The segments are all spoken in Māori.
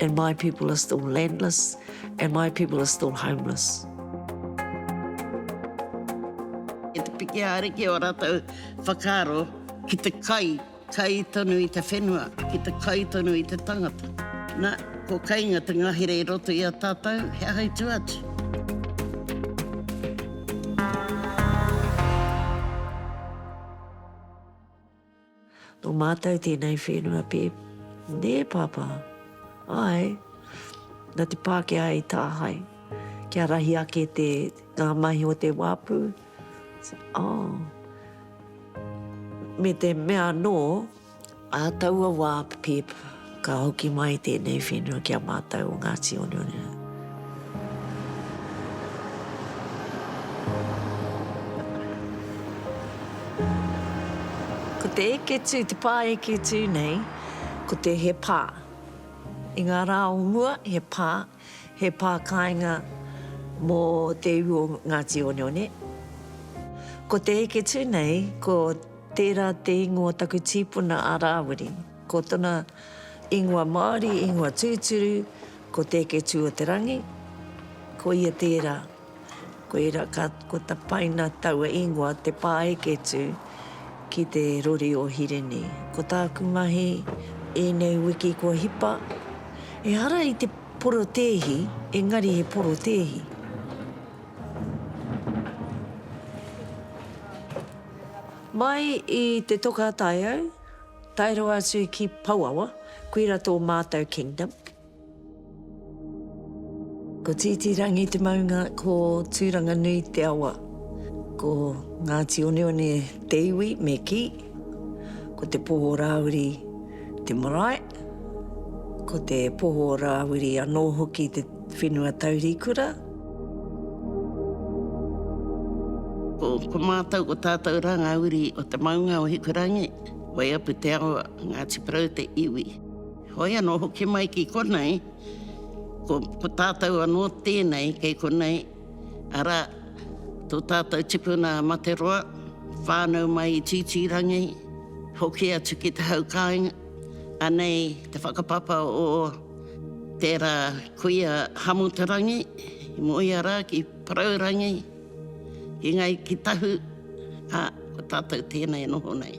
And my people are still landless, and my people are still homeless. I te piki ariki o ratou whakaaro ki te kai, kai tonu i te whenua, ki te kai tonu i te tangata. Na, ko kainga te ngahere i roto i a tatou, he aha i tu atu? Nō mātou tēnei whenua pē, nē Pāpā? Āe, nā te Pākehā i tāhae, kia rahi ake te, ngā mahi o te wāpu, oh, me te mea anō, ā taua wā, Pip, Ka hoki mai tēnei whenua ki a mātou o Ngāti Oneone. Ko te eke tū, te pā eke tū nei, ko te he pā. I ngā rā o mua, he pā. He pā kāinga mō te iwi o Ngāti Oneone. Ko te heke tū nei, ko tērā te ingoa o taku tīpuna a Rāwiri. Ko tona ingoa Māori, ingoa tūturu, ko Te Heke Tū-o-te-rangi, ko ia tērā. Koira ka ko tapaina taua ingoa te pāeketu ki te rori o Hirini. Ko tāku mahi ēnei wiki kua hipa, ehara i te porotēhi, engari he porotēhi. Mai i te toka a Taiau, tae rawa atu ki Pouawa, koira tō mātou kingdom. Ko Tītīrangi te maunga, ko Tūranganui te awa. Ko Ngāti Oneone te iwi, me kī. Ko te Poho Rāwiri te marae. Ko te Poho Rāwiri anō hoki te whenua taurikura. Ko mātou, ko tātou rā ngā uri o te maunga o Hikurangi, Waiapu te awa, Ngāti Porou te iwi. Hoi anō hoki mai ki konei, ko, ko tātou anō tēnei kei konei, arā, tō tātou tipuna a Materoa, whānau mai i Tītīrangi, hoki atu ki te hau kāinga. Anei te whakapapa o tērā kuia Hamuterangi, i moea rā ki Paraurangi, ki Ngāi, ki Tahu, ā, ko tātou tēnei e noho nei.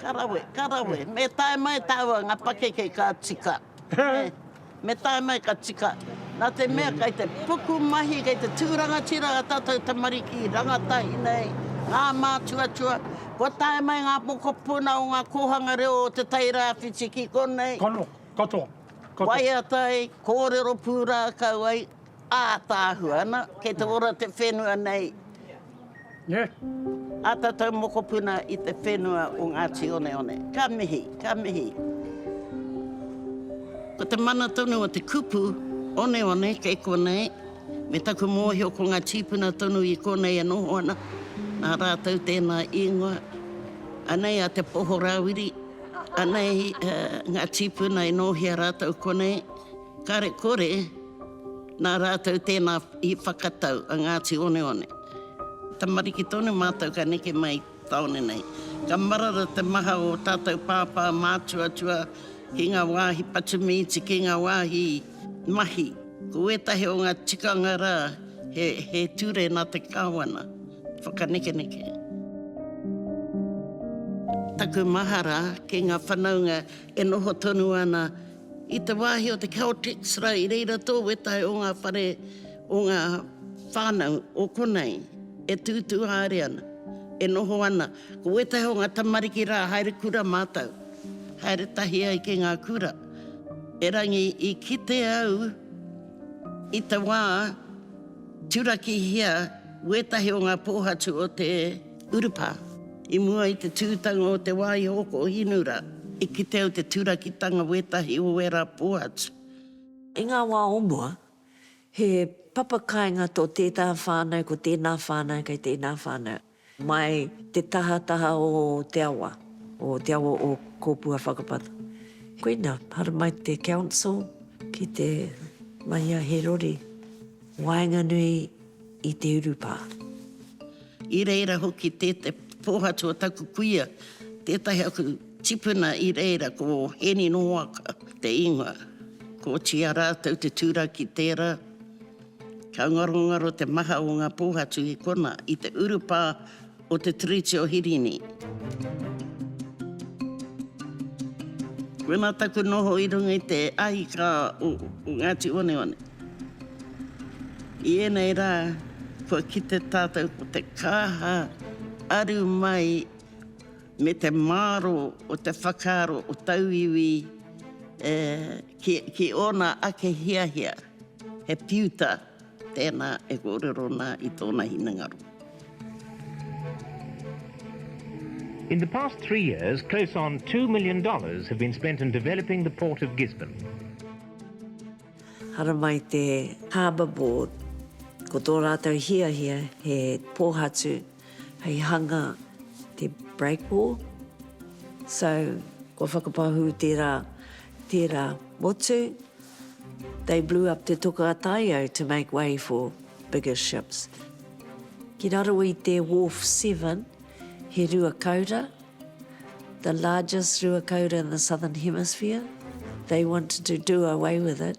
Ka rawe, ka rawe. Me tae mai tāua ngā pakeke ka tika. Me tae mai ka tika. Nā te mea kei te pukumahi, kei te tū rangatira ā tātou tamariki i rangatahi nei ngā mātuatua. Kua tae mai ngā mokopuna o ngā kōhanga reo o Te Tai Rāwhiti ki konei. Katoa, katoa. Waiatai, kōrero pūrākau ai. Ātaahua ana, kei te ora te whenua nei ā tātou mokopuna i te whenua o Ngāti Oneone. Ka mihi, ka mihi. Ko te mana tonu o te kupu oneone kei konei, me taku mōhio ko ngā tīpuna tonu i konei e noho ana, nā rātou tēnā īngoa. Anei a Te Poho Rāwiri, anei ngā tīpuna e nōhia rātou konei, kare kore, Nā rātou tēnā i whakatau a Ngāti Oneone. Tamariki tonu mātou ka neke mai tāone nei. Ka marara te maha o tātou pāpā mātuatua ki ngā wāhi patu mīti, ki ngā wāhi mahi. Ko ētahi o ngā tikanga rā, he ture nā te Kāwana whakanekeneke. Taku mahara ki ngā whanaunga e noho tonu ana I te wāhi o te Celtics rā i reira tō wētahi o ngā whare o ngā whānau o konei e tūtū haere ana, e noho ana. Ko wētahi o ngā tamariki rā haere kura mātou, haere tahi ai ki ngā kura. Erangi i kite au i te wā turakihia wētahi o ngā pōhatu o te. Urupa. I mua i te tūtanga o te wā i hoko hinura, i kite au te turakitanga wētahi o ērā pō atu. I ngā wā o mua, he papa kāinga tō tētā whānau ko tēnā whānau kei tēnā whānau, mai te tahataha o te awa, o te awa o Kōpua Whakapata. Koina, haramai te Council ki te mahia he rori. Waenganui i te urupā. I reira hoki tē te pōhatu o taku kuia, tētahi aku tipuna i reira ko Heni Noaka te ingoa. Kotia rātou te turaki tērā. Ka ngarongaro te maha o ngā pōhatu i konā, i te urupā. o te Tiriti o Hirini. Koinā taku noho i runga i te ahikā o Ngāti Oneone. I ēnei rā, kua kite tātou ko te kāha aru mai me te māro o te whakaaro o tauiwi ki ōna ake hiahia, he piuta. Tēnā e kōrero nā i tōna hinengaro. In the past three years, close on two million dollars have been spent in developing the port of Gisborne. Haramai te Harbour Board, ko tō rātou hiahia he pōhatu hei hanga te break wall. So, kua whakapahū tērā, tērā motu. They blew up Te Toka a Taio to make way for bigger ships. Ki raro i te Wharf Seven, he ruakaura, the largest ruakaura in the Southern Hemisphere. They wanted to do away with it.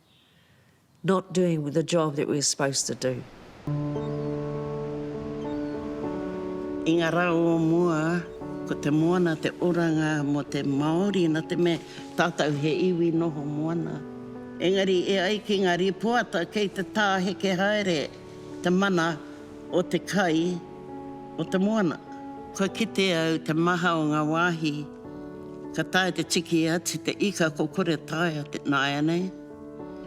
not doing the job that we're supposed to do. I nga ra o mua, ko te moana te oranga mo te Maori na te mea tatou he iwi noho moana. Engari e ai ki nga ripoata kei te taheke haere Te mana o te kai o te moana. Kua kite au te maha o nga wahi ka tae te tiki atu te ika ko kore taea te naianei.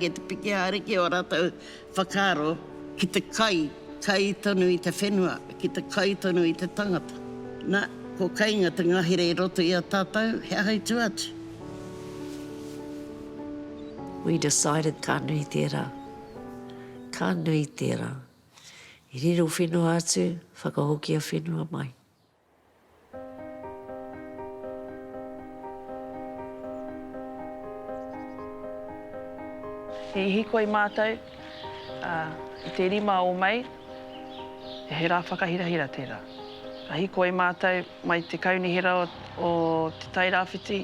Kei te piki ariki o ratou whakaaro ki te kai, kai tonu i te whenua, ki te kai tonu i te tangata. Na, ko kainga te ngahere i roto i a tatou, he aha i tu atu? We decided ka nui tera. Ka nui tērā. I riro whenua atu, whakahokia whenua mai. I hīkoi mātou i te rima o Mei, he rā whakahirahira tērā. Ka hīkoi mātou mai te Kaunihera o Te Tai Rāwhiti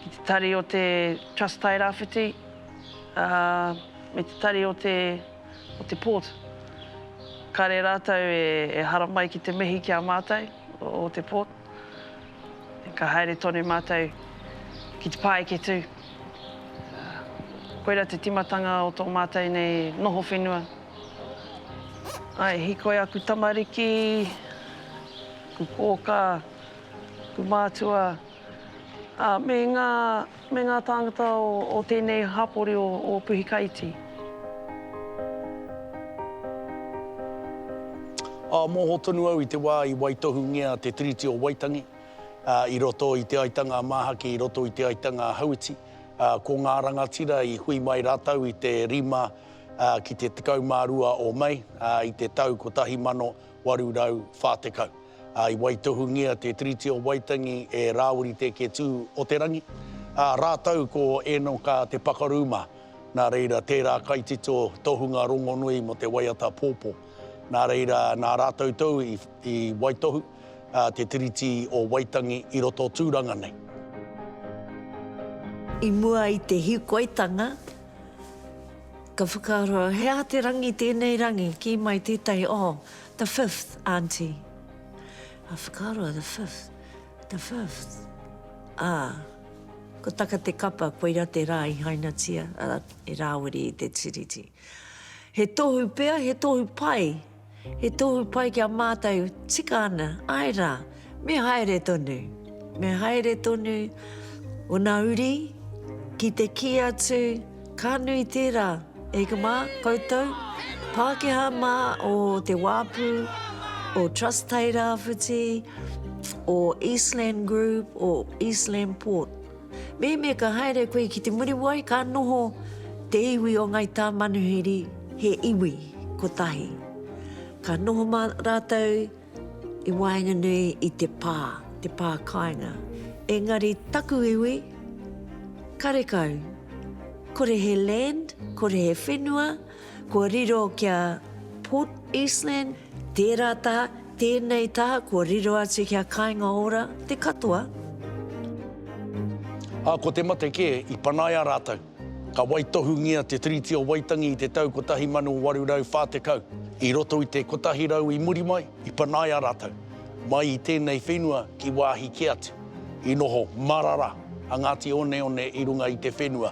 ki te tari o te Trust Tai Rāwhiti, ā, me te tari o te, o te port. Kare ratou e, e haramai ki te mihi ki a matou, o te port. Ka haere tonu matou ki te paeketu. Koira te timatanga o to matou nei noho whenua. Ai, e hikoi aku tamariki, aku koka, aku matua, a, me nga. Me ngā tāngata o tēnei hapori o Puhikaiti. Ā, mōhō tonu au i te wā i waitohungia te Tiriti o Waitangi, ā, i roto i Te Aitanga a Māhaki, i roto i Te Aitanga a Hauiti, ā, ko ngā rangatira i hui mai rātou i te 5 ki te 12 o Mei, ā, i te tau 1800. 1840. Ā, i waitohungia te Tiriti o Waitangi e Rāwiri Te Ketū o te Rangi, ā, rātou ko Ēnoka Te Pakaru mā. Nā reira, tērā kaitito tohunga rongonui mō te waiata pōpō. Nā reira, nā rātou tou i waitohu te Tiriti o Waitangi i roto tūranga nei. I mua i te hīkoitanga. Ka whakaaro, he aha te rangi tēnei rangi? Kī mai tētahi, oh, the fifth, Aunty. Ka whakaaro, the fifth, the fifth. Ā, ko taka te kapa, koira te rā i hainatia, arā, i rāwiri i te Tiriti. He tohu pea, he tohu pai. He tohu pai ki a mātou, tika ana, āe rā, me haere tonu, me haere tonu ōna uri ki te kī atu, ka nui tērā, eika mā, koutou, Pākehā mā o Te Wāpu, o Trust Tairawhiti, o Eastland Group, o Eastland Port. Mehemea ka haere koe ki Te Muriwai ka noho te iwi o Ngai Tāmanuhiri he iwi kotahi. Ka noho mā rātou i waenganui i te pā, te pā kāinga. Engari taku iwi, karekau, kore he land, kore he whenua, Kua riro ki a Port Eastland, tērā taha, tēnei taha, kua riro atu ki a Kāinga Ora, te katoa. Ā, ko te mate kē, i panaia rātou. Ka waitohungia te Tiriti o Waitangi i te tau 1840. I roto i te kotahi rau i muri mai, i panaia rātou, mai i tēnei whenua ki wāhi kē atu. I noho marara a Ngāti Oneone i runga i te whenua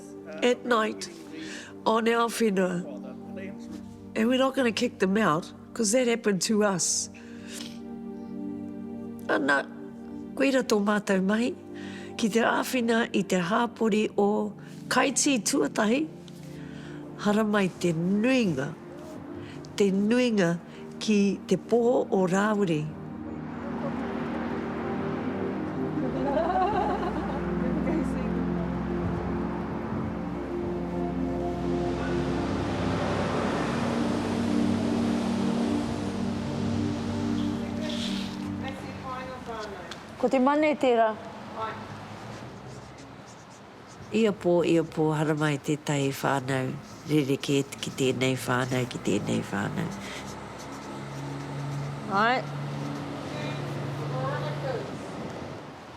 at night on our whenua, and we're not going to kick them out, because that happened to us. Ana, koira tō mātou mahi, ki te āwhina i te hāpori o Kaitī tuatahi, haramai te nuinga, te nuinga, Ki te poho o Rāwiri. Ko te mane tera. Ia pō, ia pō, haramai tētahi whānau rerekē ki tēnei whānau, ki tēnei whānau. Āe.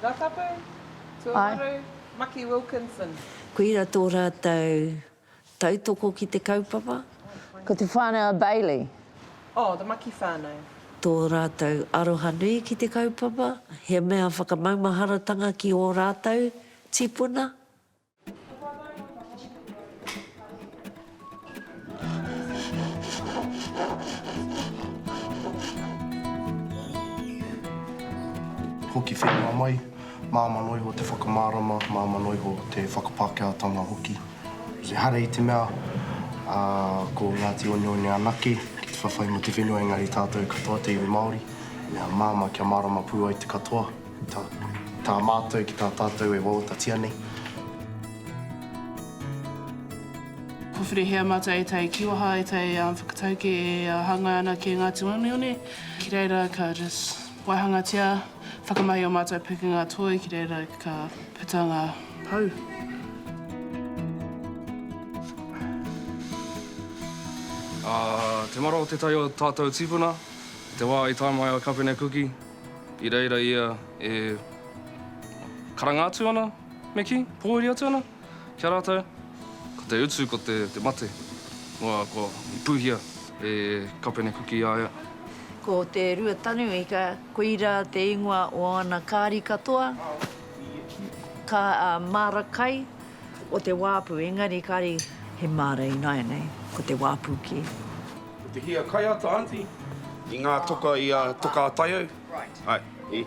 Ngā tapu, tuawaru, Maki Wilkinson. Koira tō rātou Tautoko ki te kaupapa. Ko te whānau a Bailey. Oh, the Maki whānau. Tō rātou aroha nui ki te kaupapa, he mea whakamaumaharatanga ki ō rātou tīpuna. Hoki whenua mai. Māmā noa iho te whakamārama, māmā noa iho te whakapākehātanga hoki. Ehara i te mea, ā, ko Ngāti Oneone anake ki te whawhai mō te whenua, engari tātou katoa te iwi Māori, mea māmā kia mārama pū ai te katoa, tā, tā mātou ki tā tātou e wawatatia nei. Kua whirihia mātou e tai ki waha, e tai whakatauki e hāngai ana ki Ngāti Oneone, ki reira ka just waihangatia. Whakamahi ō mātou pūkenga toi ki reira ka puta ngā pou. Ā te mara o tētahi o tātou tīpuna i te wā i tae mai a Kapene Kuki i reira ia e karanga atu ana me kī, pōuri atu ana. Ki a rātou, ko te utu ko te mate, noa kua puhia e Kapene Kuki i a ia. Ko Te Ruatanu ika, koira te ingoa o ana kāri katoa, ka māra kai o te wāpu, engari kāri he māra ināianei, ko te wāpu kē. Ko te hia kaiata, Aunty, i ngā toka i a Toka a Taiau. Right. Aye.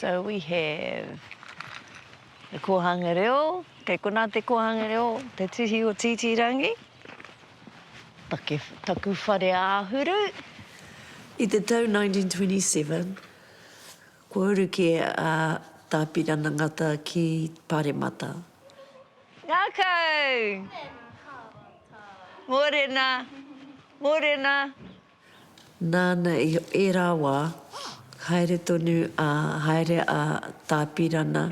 So we have the Kohanga Reo, kei konā te Kohanga Reo, te tuhi o Tītīrangi, take, taku whare āhuru. I te tau 1927, kua uru kē a Tā Pirana Ngata ki Paremata. Ngakau! Morena! Morena! Nāna i ērā wā, haere tonu a, haere a Tāpirana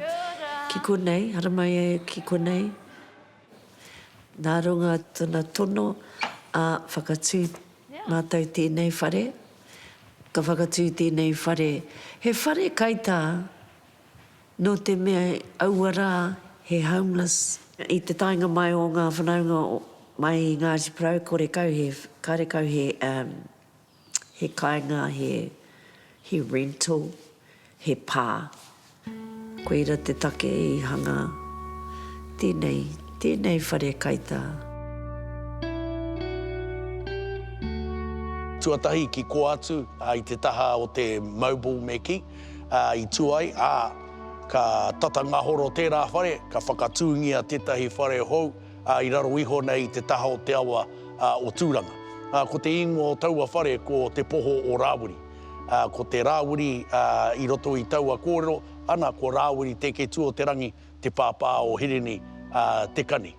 ki konei, haramai ai ki konei, nā runga tona tono, ā, whakatū mātou tēnei whare, ka whakatū tēnei whare, he whare kaitā. Nō te mea aua rā he homeless. I te taenga mai o ngā whanaunga mai i Ngāti Porou, karekau he, karekau he, he kāinga, he, he rental, he pā. Koira te take i hanga tēnei, tēnei whare kaitā. Tuatahi ki kō atu i te taha o te Mobile Meki. ā, i tū ai, ā, ka tata ngahoro tērā whare, ka whakatūngia tētahi whare hou, ā, i raro iho nei i te taha o te awa, ā, o Tūranga. Ā, ko te īngoa o taua whare ko Te Poho o Rāwiri. Ā, ko te Rāwiri, ā, i roto i taua kōrero, ana, ko Rāwiri Tēketuoterangi te pāpā o Hirini, ā, Te Kani.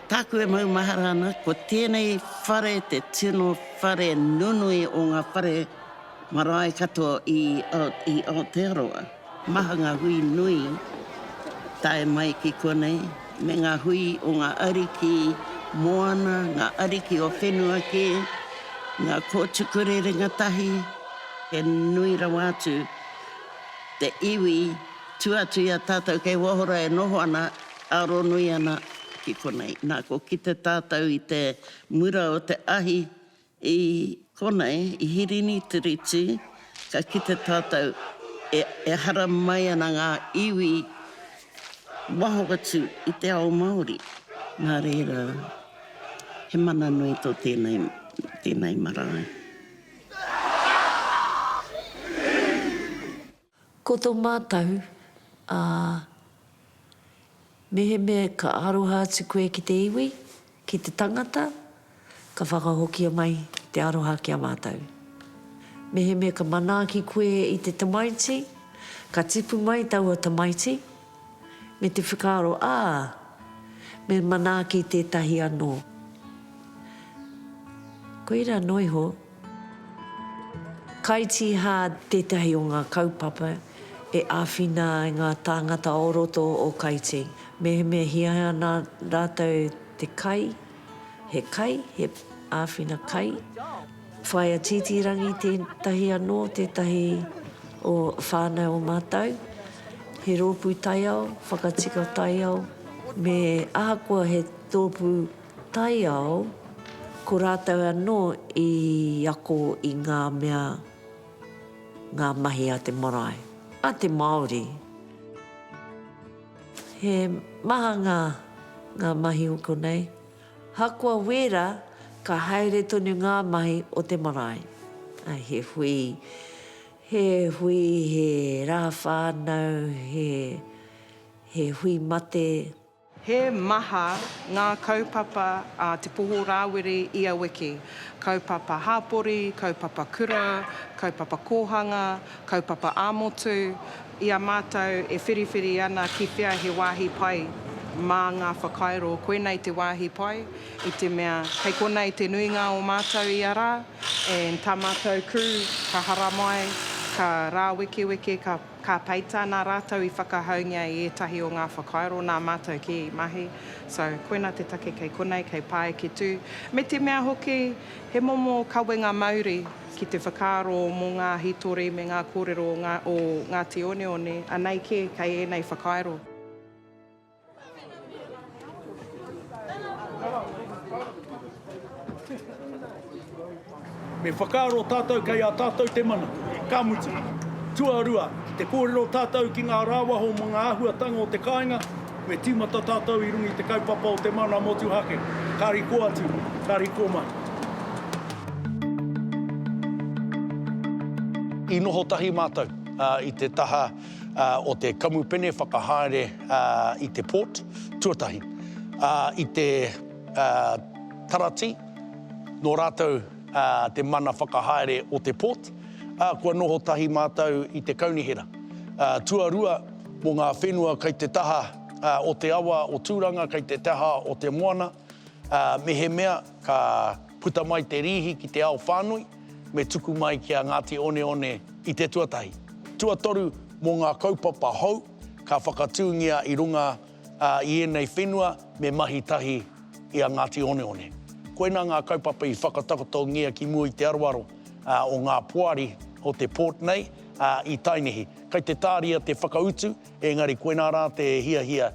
Tāku e maumahara ana, ko tēnei whare te tino whare nunui o ngā whare marae katoa i i Aotearoa. Maha ngā hui nui tae mai ki konei, me ngā hui o ngā ariki moana, ngā ariki o whenua kē, ngā kōtukure ringatahi, he nui rawa atu te iwi, tua atu i a tātou kei waho rā e noho ana, Aronui ana ki konei. Na, ko kite tatou i te mura o te ahi i konei, i Hirini Tiriti, ka kite tatou e ehara mai ana nga iwi waho atu i te ao Maori. Na reira, he mana nui to tenei, tenei marae. Ko to mātau, ā, mehemea ka aroha atu koe ki te iwi, ki te tangata, ka whakahokia mai te aroha ki a mātau. Mehemea ka manaaki koe i te tamaiti, ka tipu mai taua tamaiti, Me te whakaaro, ā, me manaaki tētahi anō. Koirā noa iho. Kaitīhā tētahi o ngā kaupapa e āwhina ai ngā tāngata o roto o Kaitī. Mehemea hiahia ana rātou te kai, he kai, he āwhina kai, Whaea Titirangi tētahi anō, tētahi o whānau o mātou. He rōpū taiao, whakatika taiao, me ahakoa he tōpū taiao, ko rātou anō i ako i ngā mea, ngā mahi a te marae, a te Māori. He maha ngā mahi o konei. Hakoa wēra, ka haere tonu ngā mahi o te marae. He hui, he hui, he rā whānau, he, he hui mate. He maha ngā kaupapa a Te Poho Rāwiri i a Wiki, kaupapa hapori, kaupapa kura, kaupapa kōhanga, Kaupapa ā-motu, i a mātou e whiriwhiri ana ki whea he wāhi pai mā ngā whakairo, koinei te wāhi pai, i te mea, kei konei te nuinga o mātou ia rā, and tā mātou kū, ka haramai, ka rāwekeweke, ka, ka peita, nā rātou i whakahaungia i ētahi o ngā whakairo, nā mātou kē i mahi. So, koina te take kei konei, kei Pāeketū. Me te mea hoki, he momo kawenga mauri. ki te whakaaro mō ngā hītori me ngā kōrero o ngā, o Ngāti Oneone, anei kē kei ēnei whakairo. Me whakaaro tātou kei a tātou te mana, ka mutu. Tuarua, ki te kōrero tātou ki ngā rāwaho mō ngā āhuatanga o te kāinga, Me tīmata tātou i runga i te kaupapa o te mana motuhake. Kāri kō atu, kāri kō mai. I noho tahi mātou i te taha o te kamupene whakahaere i te port tuatahi, i te Taratī, nō rātou te mana whakahaere o te port, ā, kua noho tahi mātou i te Kaunihera tuarua. Mō ngā whenua kei te taha o te awa o Tūranga, kei te taha o te moana, mehemea ka puta mai te rīhi ki te ao whānui, me tuku mai ki a Ngāti Oneone i te tuatahi. Tuatoru, mō ngā kaupapa hou ka whakatūngia i runga ā, i ēnei whenua me mahi tahi i a Ngāti Oneone. Koinā ngā kaupapa i whakatakotongia ki mua i te aroaro o ngā poari o te port nei, ā, i Tainēhi. Kei te tāria te whakautu, ēngari koinā rā te hiahia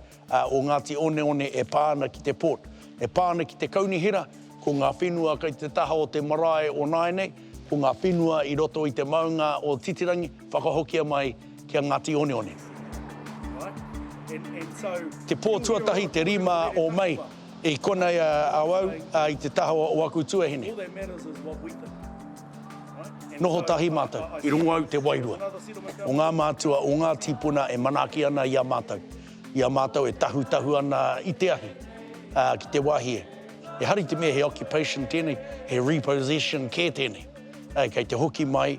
o Ngāti Oneone e pā ana ki te port. E pā ana ki te kaunihera, ko ngā whenua kei te taha o te marae o nāianei, ko ngā whenua i roto i te maunga o Titirangi, whakahokia mai, ki a Ngāti Oneone. Te pō tuatahi, te 5 o Mei, i konei a au i te taha o aku tuahine. Noho tahi mātou. I rongo au te wairua o ngā mātua, o ngā tīpuna e manaaki ana i a mātou, i a mātou e tahutahu ana i te ahi ki te wāhi e. Ehara i te mea he occupation tēnei, he repossession kē tēnei, kei te hoki mai,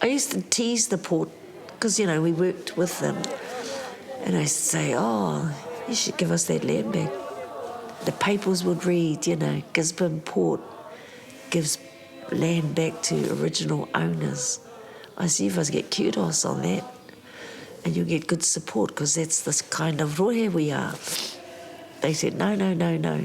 I used to tease the poor because you know we worked with them and I used to say oh you should give us that land back the papers would read you know Gisborne port gives land back to original owners I see if I get kudos on that and you get good support because that's the kind of rohe we are they said no no no no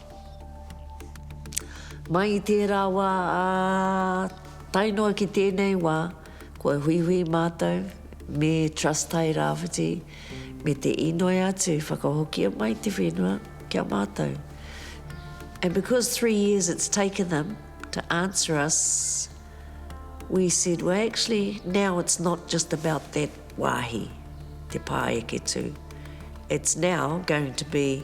Mai i tērā wā ā tae noa ki tēnei wā, kua huihui mātou me Trust Tai Rāwhiti me te inoi atu whakahokia mai te whenua ki a mātou. And because three years it's taken them to answer us, we said, well actually now it's not just about that wāhi, te pāeketū, it's now going to be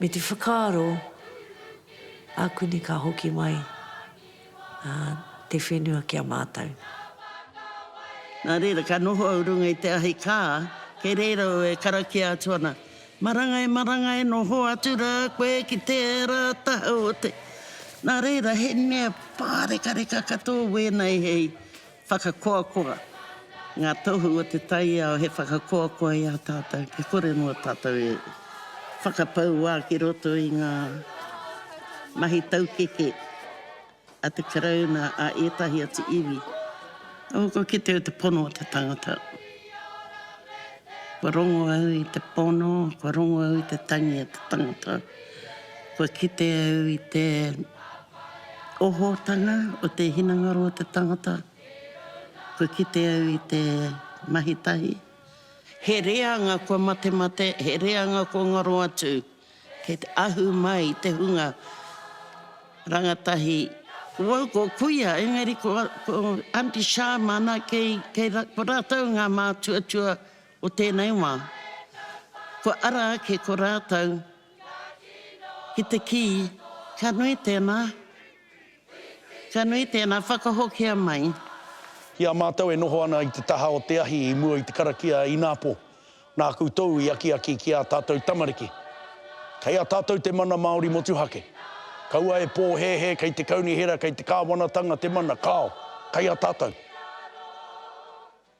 me te whakaaro a Kuni ka hoki mai te whenua ki a mātou. Nā reira, ka noho au runga i te ahi kā, kei reira au e karakia atu ana, Marangai, marangai, noho atu rā koe ki tērā taha o te. Nā reira, he mea pārekareka katoa wēnei hei. Whakakoakoa, Ngā Tohu o te Taiao he whakakoakoa i a tātou kia kore noa tātou e whakapau wā ki roto i ngā mahi taukeke a te Karauna, a ētahi atu iwi. Oh, kua kite au te pono o te tangata. Kua rongo au i te pono, kua rongo au i te tangi o te tangata. Kua kite au i te. o Hōtana, o te hinengaro o te tangata, kua kite au i te mahi tahi. He reanga kua matemate, he reanga kua ngaro atu, kei te ahu mai i te hunga rangatahi. Ko au ko kuia, engari ko Aunty Sha māna, kei, kei, ko rātou ngā mātuatua o tēnei wā. Kua ara ake ko rātou. Ki te kī, Ka nui tēnā. Ka nui tēnā, whakahokia mai. Ki a mātou e noho ana i te taha o te ahi i mua i te karakia inapō nā koutou i akiaki ki ā tātou tamariki. Kei a tātou te mana Māori motuhake. Kaua e pōhēhē kei te kaunihera, kei te kāwanatanga te mana, kāo, kei a tātou.